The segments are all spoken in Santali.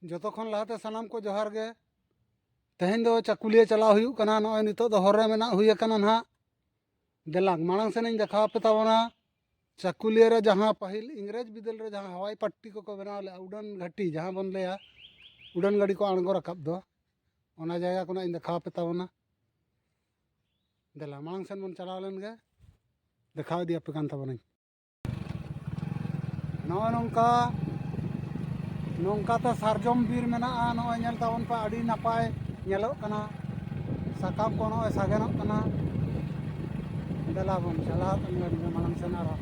ᱡᱚᱛᱚ ᱠᱷᱚᱱ ᱞᱟᱦᱟᱛᱮ ᱥᱟᱱᱟᱢ ᱠᱚ ᱡᱚᱦᱟᱨ ᱜᱮ ᱛᱮᱦᱮᱧ ᱫᱚ ᱪᱟᱹᱠᱩᱞᱤᱭᱟᱹ ᱪᱟᱞᱟᱣ ᱦᱩᱭᱩᱜ ᱠᱟᱱᱟ ᱱᱚᱜᱼᱚᱭ ᱱᱤᱛᱚᱜ ᱫᱚ ᱦᱚᱨ ᱨᱮ ᱢᱮᱱᱟᱜ ᱦᱩᱭ ᱟᱠᱟᱱᱟ ᱱᱟᱦᱟᱜ ᱫᱮᱞᱟᱝ ᱢᱟᱲᱟᱝ ᱥᱮᱱᱤᱧ ᱫᱮᱠᱷᱟᱣ ᱟᱯᱮ ᱛᱟᱵᱚᱱᱟ ᱪᱟᱹᱠᱩᱞᱤᱭᱟᱹ ᱨᱮ ᱡᱟᱦᱟᱸ ᱯᱟᱹᱦᱤᱞ ᱤᱝᱨᱮᱡᱽ ᱵᱤᱫᱟᱹᱞ ᱨᱮ ᱡᱟᱦᱟᱸ ᱦᱟᱣᱟᱭ ᱯᱟᱴᱴᱤ ᱠᱚᱠᱚ ᱵᱮᱱᱟᱣ ᱞᱮᱫᱼᱟ ᱩᱰᱟᱹᱱ ᱜᱷᱟᱹᱴᱤ ᱡᱟᱦᱟᱸ ᱵᱚᱱ ᱞᱟᱹᱭᱟ ᱩᱰᱟᱹᱱ ᱜᱟᱹᱰᱤ ᱠᱚ ᱟᱬᱜᱚ ᱨᱟᱠᱟᱵ ᱫᱚ ᱚᱱᱟ ᱡᱟᱭᱜᱟ ᱠᱷᱚᱱᱟᱜ ᱤᱧ ᱫᱮᱠᱷᱟᱣ ᱟᱯᱮ ᱛᱟᱵᱚᱱᱟ ᱫᱮᱞᱟ ᱢᱟᱲᱟᱝ ᱥᱮᱱ ᱵᱚᱱ ᱪᱟᱞᱟᱣ ᱞᱮᱱ ᱜᱮ ᱫᱮᱠᱷᱟᱣ ᱤᱫᱤᱭᱟᱯᱮ ᱠᱟᱱ ᱛᱟᱵᱚᱱᱟᱹᱧ ᱱᱚᱜᱼᱚ ᱱᱚᱝᱠᱟ ᱱᱚᱝᱠᱟᱛᱮ ᱥᱟᱨᱡᱚᱢ ᱵᱤᱨ ᱢᱮᱱᱟᱜᱼᱟ ᱱᱚᱜᱼᱚᱭ ᱧᱮᱞ ᱛᱟᱵᱚᱱ ᱯᱮ ᱟᱹᱰᱤ ᱱᱟᱯᱟᱭ ᱧᱮᱞᱚᱜ ᱠᱟᱱᱟ ᱥᱟᱠᱟᱢ ᱠᱚ ᱱᱚᱜᱼᱚᱭ ᱥᱟᱜᱮᱱᱚᱜ ᱠᱟᱱᱟ ᱫᱮᱞᱟ ᱵᱚᱱ ᱪᱟᱞᱟᱣ ᱠᱟᱱ ᱜᱮᱭᱟ ᱢᱟᱲᱟᱝ ᱥᱮᱱ ᱟᱨᱦᱚᱸ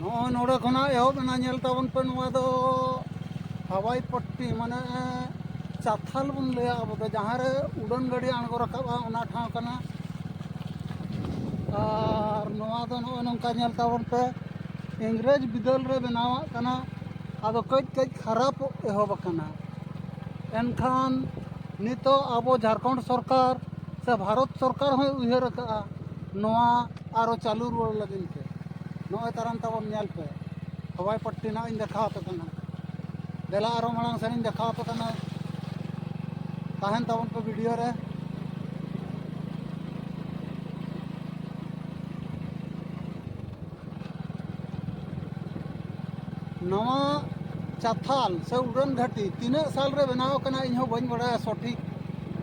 ᱱᱚᱜᱼᱚᱭ ᱱᱚᱰᱮ ᱠᱷᱚᱱᱟᱜ ᱮᱦᱚᱵ ᱮᱱᱟ ᱧᱮᱞ ᱛᱟᱵᱚᱱ ᱯᱮ ᱱᱚᱣᱟ ᱫᱚ ᱦᱟᱣᱟᱭ ᱯᱚᱴᱴᱤ ᱢᱟᱱᱮ ᱪᱟᱛᱷᱟᱞ ᱵᱚᱱ ᱞᱟᱹᱭᱟ ᱟᱵᱚ ᱫᱚ ᱡᱟᱦᱟᱸ ᱨᱮ ᱩᱰᱟᱹᱱ ᱜᱟᱹᱰᱤ ᱟᱬᱜᱚ ᱨᱟᱠᱟᱵᱼᱟ ᱚᱱᱟ ᱴᱷᱟᱶ ᱠᱟᱱᱟ ᱟᱨ ᱱᱚᱣᱟ ᱫᱚ ᱱᱚᱜᱼᱚᱭ ᱱᱚᱝᱠᱟ ᱧᱮᱞ ᱛᱟᱵᱚᱱ ᱯᱮ ᱤᱝᱨᱮᱡᱽ ᱵᱤᱫᱟᱹᱞ ᱨᱮ ᱵᱮᱱᱟᱣᱟᱜ ᱠᱟᱱᱟ ᱟᱫᱚ ᱠᱟᱹᱡ ᱠᱟᱹᱡ ᱠᱷᱟᱨᱟᱯᱚᱜ ᱮᱦᱚᱵ ᱟᱠᱟᱱᱟ ᱮᱱᱠᱷᱟᱱ ᱱᱤᱛᱚᱜ ᱟᱵᱚ ᱡᱷᱟᱲᱠᱷᱚᱸᱰ ᱥᱚᱨᱠᱟᱨ ᱥᱮ ᱵᱷᱟᱨᱚᱛ ᱥᱚᱨᱠᱟᱨ ᱦᱚᱸᱭ ᱩᱭᱦᱟᱹᱨ ᱟᱠᱟᱫᱼᱟ ᱱᱚᱣᱟ ᱟᱨᱚ ᱪᱟᱹᱞᱩ ᱨᱩᱣᱟᱹᱲ ᱞᱟᱹᱜᱤᱫ ᱛᱮ ᱱᱚᱜᱼᱚᱭ ᱛᱟᱨᱟᱢ ᱛᱟᱵᱚᱱ ᱧᱮᱞ ᱯᱮ ᱦᱚᱵᱟᱭ ᱯᱟᱴᱴᱤ ᱱᱟᱜ ᱤᱧ ᱫᱮᱠᱷᱟᱣ ᱟᱯᱮ ᱠᱟᱱᱟ ᱫᱮᱞᱟ ᱟᱨᱚ ᱢᱟᱲᱟᱝ ᱥᱮᱱᱤᱧ ᱫᱮᱠᱷᱟᱣ ᱟᱯᱮ ᱠᱟᱱᱟ ᱛᱟᱦᱮᱱ ᱛᱟᱵᱚᱱ ᱯᱮ ᱵᱷᱤᱰᱤᱭᱳ ᱨᱮ ᱱᱚᱣᱟ ᱪᱟᱛᱷᱟᱞ ᱥᱮ ᱩᱰᱟᱹᱱ ᱜᱷᱟᱹᱴᱤ ᱛᱤᱱᱟᱹᱜ ᱥᱟᱞ ᱨᱮ ᱵᱮᱱᱟᱣ ᱟᱠᱟᱱᱟ ᱤᱧ ᱦᱚᱸ ᱵᱟᱹᱧ ᱵᱟᱲᱟᱭᱟ ᱥᱚᱴᱷᱤᱠ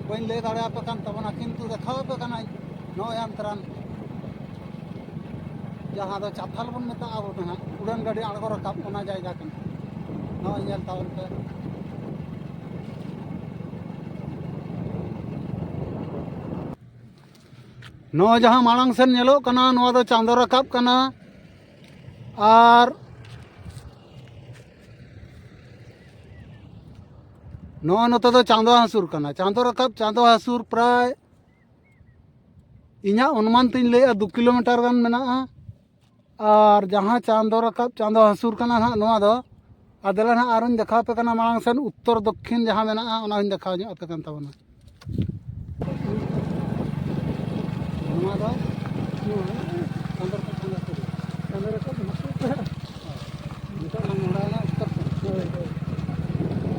ᱵᱟᱹᱧ ᱞᱟᱹᱭ ᱫᱟᱲᱮᱭᱟᱯᱮ ᱠᱟᱱ ᱛᱟᱵᱚᱱᱟ ᱠᱤᱱᱛᱩ ᱫᱮᱠᱷᱟᱣ ᱟᱯᱮ ᱠᱟᱹᱱᱟᱹᱧ ᱱᱚᱜᱼᱚᱭ ᱟᱢ ᱛᱟᱨᱟᱢ ᱡᱟᱦᱟᱸ ᱫᱚ ᱪᱟᱛᱷᱟᱞ ᱵᱚᱱ ᱢᱮᱛᱟᱜᱼᱟ ᱟᱵᱚ ᱫᱚ ᱦᱟᱸᱜ ᱩᱰᱟᱹᱱ ᱜᱟᱹᱰᱤ ᱟᱬᱜᱚ ᱨᱟᱠᱟᱵ ᱚᱱᱟ ᱡᱟᱭᱜᱟ ᱠᱟᱱᱟ ᱱᱚᱜᱼᱚᱭ ᱧᱮᱞ ᱛᱟᱵᱚᱱ ᱯᱮ ᱱᱚᱜᱼᱚᱭ ᱡᱟᱦᱟᱸ ᱢᱟᱲᱟᱝ ᱥᱮᱱ ᱧᱮᱞᱚᱜ ᱠᱟᱱᱟ ᱱᱚᱣᱟ ᱫᱚ ᱪᱟᱸᱫᱚ ᱨᱟᱠᱟᱵ ᱠᱟᱱᱟ ᱟᱨ ᱱᱚᱜᱼᱚᱭ ᱱᱚᱛᱮ ᱫᱚ ᱪᱟᱸᱫᱚ ᱦᱟᱹᱥᱩᱨ ᱠᱟᱱᱟ ᱪᱟᱸᱫᱚ ᱨᱟᱠᱟᱵ ᱪᱟᱸᱫᱚ ᱦᱟᱹᱥᱩᱨ ᱯᱨᱟᱭ ᱤᱧᱟᱹᱜ ᱚᱱᱩᱢᱟᱱ ᱛᱤᱧ ᱞᱟᱹᱭᱮᱫᱼᱟ ᱫᱩ ᱠᱤᱞᱳᱢᱤᱴᱟᱨ ᱜᱟᱱ ᱢᱮᱱᱟᱜᱼᱟ ᱟᱨ ᱡᱟᱦᱟᱸ ᱪᱟᱸᱫᱚ ᱨᱟᱠᱟᱵ ᱪᱟᱸᱫᱚ ᱦᱟᱹᱥᱩᱨ ᱠᱟᱱᱟ ᱦᱟᱸᱜ ᱱᱚᱣᱟ ᱫᱚ ᱟᱨ ᱫᱮᱞᱟ ᱦᱟᱸᱜ ᱟᱨᱚᱧ ᱫᱮᱠᱷᱟᱣ ᱟᱯᱮ ᱠᱟᱱᱟ ᱢᱟᱲᱟᱝ ᱥᱮᱫ ᱩᱛᱛᱚᱨ ᱫᱚᱠᱠᱷᱤᱱ ᱡᱟᱦᱟᱸ ᱢᱮᱱᱟᱜᱼᱟ ᱚᱱᱟ ᱦᱚᱸᱧ ᱫᱮᱠᱷᱟᱣ ᱧᱚᱜ ᱟᱯᱮ ᱠᱟᱱ ᱛᱟᱵᱚᱱᱟ ᱱᱚᱣᱟ ᱫᱚ ᱪᱟᱸᱫᱚ ᱨᱟᱠᱟᱵ ᱪᱟᱸᱫᱚ ᱦᱟᱹᱥᱩᱨ ᱪᱟᱸᱫᱚ ᱨᱟᱠᱟᱵ ᱦᱟᱹᱥᱩᱨ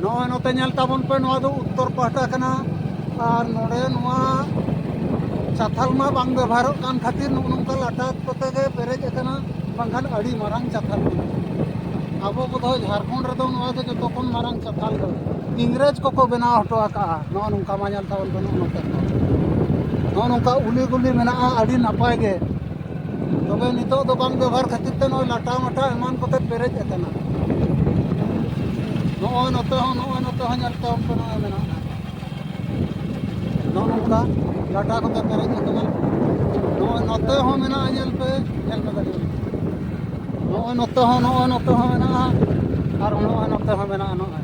ᱱᱚᱜᱼᱚᱭ ᱱᱚᱛᱮ ᱧᱮᱞ ᱛᱟᱵᱚᱱ ᱯᱮ ᱱᱚᱣᱟ ᱫᱚ ᱩᱛᱛᱚᱨ ᱯᱟᱦᱴᱟ ᱠᱟᱱᱟ ᱟᱨ ᱱᱚᱰᱮ ᱱᱚᱣᱟ ᱪᱟᱛᱷᱟᱞ ᱢᱟ ᱵᱟᱝ ᱵᱮᱵᱚᱦᱟᱨᱚᱜ ᱠᱟᱱ ᱠᱷᱟᱹᱛᱤᱨ ᱱᱚᱜᱼᱚ ᱱᱚᱝᱠᱟ ᱞᱟᱴᱟ ᱠᱚᱛᱮ ᱜᱮ ᱯᱮᱨᱮᱡ ᱟᱠᱟᱱᱟ ᱵᱟᱝᱠᱷᱟᱱ ᱟᱹᱰᱤ ᱢᱟᱨᱟᱝ ᱪᱟᱛᱷᱟᱞ ᱠᱟᱱᱟ ᱟᱵᱚ ᱵᱚᱫᱷᱚᱭ ᱡᱷᱟᱲᱠᱷᱚᱸᱰ ᱨᱮᱫᱚ ᱱᱚᱣᱟ ᱫᱚ ᱡᱚᱛᱚ ᱠᱷᱚᱱ ᱢᱟᱨᱟᱝ ᱪᱟᱛᱷᱟᱞ ᱫᱚ ᱤᱝᱨᱮᱡᱽ ᱠᱚᱠᱚ ᱵᱮᱱᱟᱣ ᱦᱚᱴᱚ ᱟᱠᱟᱜᱼᱟ ᱱᱚᱜᱼᱚ ᱱᱚᱝᱠᱟ ᱢᱟ ᱧᱮᱞ ᱛᱟᱵᱚᱱ ᱯᱮ ᱱᱚᱜᱼᱚ ᱱᱚᱝᱠᱟ ᱱᱚᱜᱼᱚ ᱱᱚᱝᱠᱟ ᱩᱞᱤ ᱜᱩᱞᱤ ᱢᱮᱱᱟᱜᱼᱟ ᱟᱹᱰᱤ ᱱᱟᱯᱟᱭ ᱜᱮ ᱛᱚᱵᱮ ᱱᱤᱛᱚᱜ ᱫᱚ ᱵᱟᱝ ᱵᱮᱵᱚᱦᱟᱨ ᱠᱷᱟᱹᱛᱤᱨ ᱛᱮ ᱱᱚᱜᱼᱚᱭ ᱞᱟᱴᱟ ᱢᱟᱴᱟ ᱮᱢᱟᱱ ᱠᱚᱛᱮ ᱯᱮᱨᱮᱡ ᱟᱠᱟᱱᱟ ᱱᱚᱜᱼᱚᱭ ᱱᱚᱛᱮ ᱦᱚᱸ ᱱᱚᱜᱼᱚᱭ ᱱᱚᱛᱮ ᱦᱚᱸ ᱧᱮᱞ ᱛᱟᱵᱚᱱ ᱯᱮ ᱱᱚᱜᱼᱚᱭ ᱢᱮᱱᱟᱜᱼᱟ ᱱᱚᱜᱼᱚ ᱱᱚᱝᱠᱟ ᱞᱟᱴᱟ ᱠᱚᱛᱮ ᱯᱮᱨᱮᱡ ᱟᱠᱟᱱᱟ ᱱᱚᱜᱼᱚᱭ ᱱᱚᱛᱮ ᱦᱚᱸ ᱢᱮᱱᱟᱜᱼᱟ ᱧᱮᱞ ᱯᱮ ᱧᱮᱞ ᱯᱮ ᱠᱟᱹᱴᱤᱡ ᱱᱚᱜᱼᱚᱭ ᱱᱚᱛᱮ ᱦᱚᱸ ᱱᱚᱜᱼᱚᱭ ᱱᱚᱛᱮ ᱦᱚᱸ ᱢᱮᱱᱟᱜᱼᱟ ᱟᱨ ᱱᱚᱜᱼᱚᱭ ᱱᱚᱛᱮ ᱦᱚᱸ ᱢᱮᱱᱟᱜᱼᱟ ᱱᱚᱜᱼᱚᱭ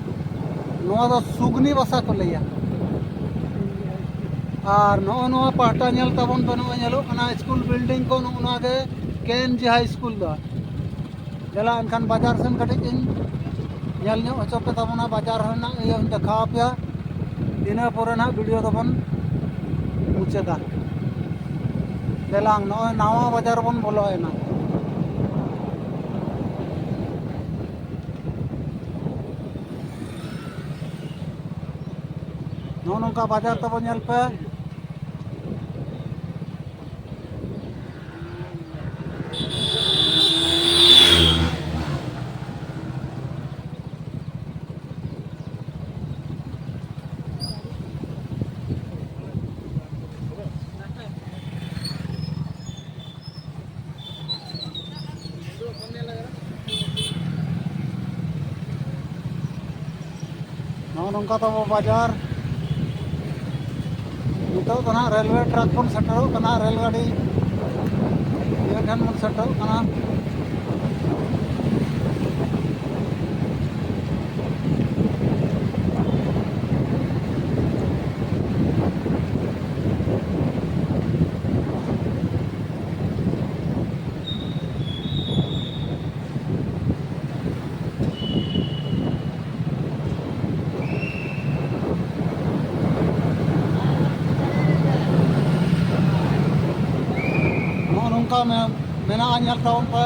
ᱱᱚᱣᱟ ᱫᱚ ᱥᱩᱜᱽᱱᱤ ᱵᱟᱥᱟ ᱠᱚ ᱞᱟᱹᱭᱟ ᱟᱨ ᱱᱚᱜᱼᱚ ᱱᱚᱣᱟ ᱯᱟᱦᱴᱟ ᱧᱮᱞ ᱛᱟᱵᱚᱱ ᱯᱮ ᱱᱚᱜᱼᱚᱭ ᱧᱮᱞᱚᱜ ᱠᱟᱱᱟ ᱥᱠᱩᱞ ᱵᱤᱞᱰᱤᱝ ᱠᱚ ᱱᱚᱜᱼᱚ ᱱᱚᱣᱟ ᱜᱮ ᱠᱮ ᱮᱱ ᱡᱤ ᱦᱟᱭ ᱥᱠᱩᱞ ᱫᱚ ᱫᱮᱞᱟ ᱮᱱᱠᱷᱟᱱ ᱵᱟᱡᱟᱨ ᱥᱮᱱ ᱠᱟᱹᱴᱤᱡ ᱤᱧ ᱧᱮᱞ ᱧᱚᱜ ᱦᱚᱪᱚ ᱯᱮ ᱛᱟᱵᱚᱱᱟ ᱵᱟᱡᱟᱨ ᱨᱮᱱᱟᱜ ᱤᱭᱟᱹᱧ ᱫᱮᱠᱷᱟᱣ ᱟᱯᱮᱭᱟ ᱤᱱᱟᱹ ᱯᱚᱨᱮ ᱱᱟᱦᱟᱜ ᱵᱷᱤᱰᱤᱭᱳ ᱫᱚᱵᱚᱱ ᱢᱩᱪᱟᱹᱫᱟ ᱫᱮᱞᱟᱝ ᱱᱚᱜᱼᱚᱭ ᱱᱟᱣᱟ ᱵᱟᱡᱟᱨ ᱵᱚᱱ ᱵᱚᱞᱚᱭᱮᱱᱟ ᱱᱚᱜᱼᱚ ᱱᱚᱝᱠᱟ ᱵᱟᱡᱟᱨ ᱛᱟᱵᱚ ᱧᱮᱞ ᱯᱮ ᱱᱚᱜᱼᱚ ᱱᱚᱝᱠᱟ ᱛᱟᱵᱚ ᱵᱟᱡᱟᱨ ᱱᱤᱛᱚᱜ ᱫᱚ ᱱᱟᱦᱟᱜ ᱨᱮᱞᱣᱮ ᱴᱨᱟᱠ ᱵᱚᱱ ᱥᱮᱴᱮᱨᱚᱜ ᱠᱟᱱᱟ ᱨᱮᱞ ᱜᱟᱹᱰᱤ ᱤᱭᱟᱹ ᱴᱷᱮᱱ ᱵᱚᱱ ᱥᱮᱴᱮᱨᱚᱜ ᱠᱟᱱᱟ ᱱᱚᱝᱠᱟ ᱢᱮᱱᱟᱜᱼᱟ ᱧᱮᱞ ᱛᱟᱵᱚᱱ ᱯᱮ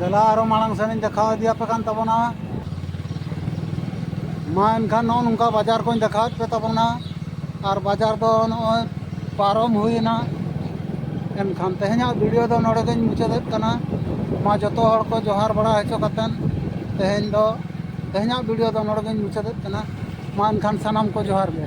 ᱫᱮᱞᱟ ᱟᱨᱚ ᱢᱟᱲᱟᱝ ᱥᱮᱱᱤᱧ ᱫᱮᱠᱷᱟᱣ ᱤᱫᱤᱭᱟᱯᱮ ᱠᱟᱱ ᱛᱟᱵᱚᱱᱟ ᱢᱟ ᱮᱱᱠᱷᱟᱱ ᱱᱚᱜᱼᱚ ᱱᱚᱝᱠᱟ ᱵᱟᱡᱟᱨ ᱠᱚᱧ ᱫᱮᱠᱷᱟᱣᱮᱫ ᱯᱮ ᱛᱟᱵᱚᱱᱟ ᱟᱨ ᱵᱟᱡᱟᱨ ᱫᱚ ᱱᱚᱜᱼᱚᱭ ᱯᱟᱨᱚᱢ ᱦᱩᱭᱮᱱᱟ ᱮᱱᱠᱷᱟᱱ ᱛᱮᱦᱮᱧᱟᱜ ᱵᱷᱤᱰᱤᱭᱳ ᱫᱚ ᱱᱚᱰᱮ ᱜᱤᱧ ᱢᱩᱪᱟᱹᱫᱮᱫ ᱠᱟᱱᱟ ᱢᱟ ᱡᱚᱛᱚ ᱦᱚᱲ ᱠᱚ ᱡᱚᱦᱟᱨ ᱵᱟᱲᱟ ᱦᱚᱪᱚ ᱠᱟᱛᱮᱫ ᱛᱮᱦᱮᱧ ᱫᱚ ᱛᱮᱦᱮᱧᱟᱜ ᱵᱷᱤᱰᱤᱭᱳ ᱫᱚ ᱱᱚᱰᱮ ᱜᱤᱧ ᱢᱩᱪᱟᱹᱫᱮᱫ ᱠᱟᱱᱟ ᱢᱟ ᱮᱱᱠᱷᱟᱱ ᱥᱟᱱᱟᱢ ᱠᱚ ᱡᱚᱦᱟᱨ ᱜᱮ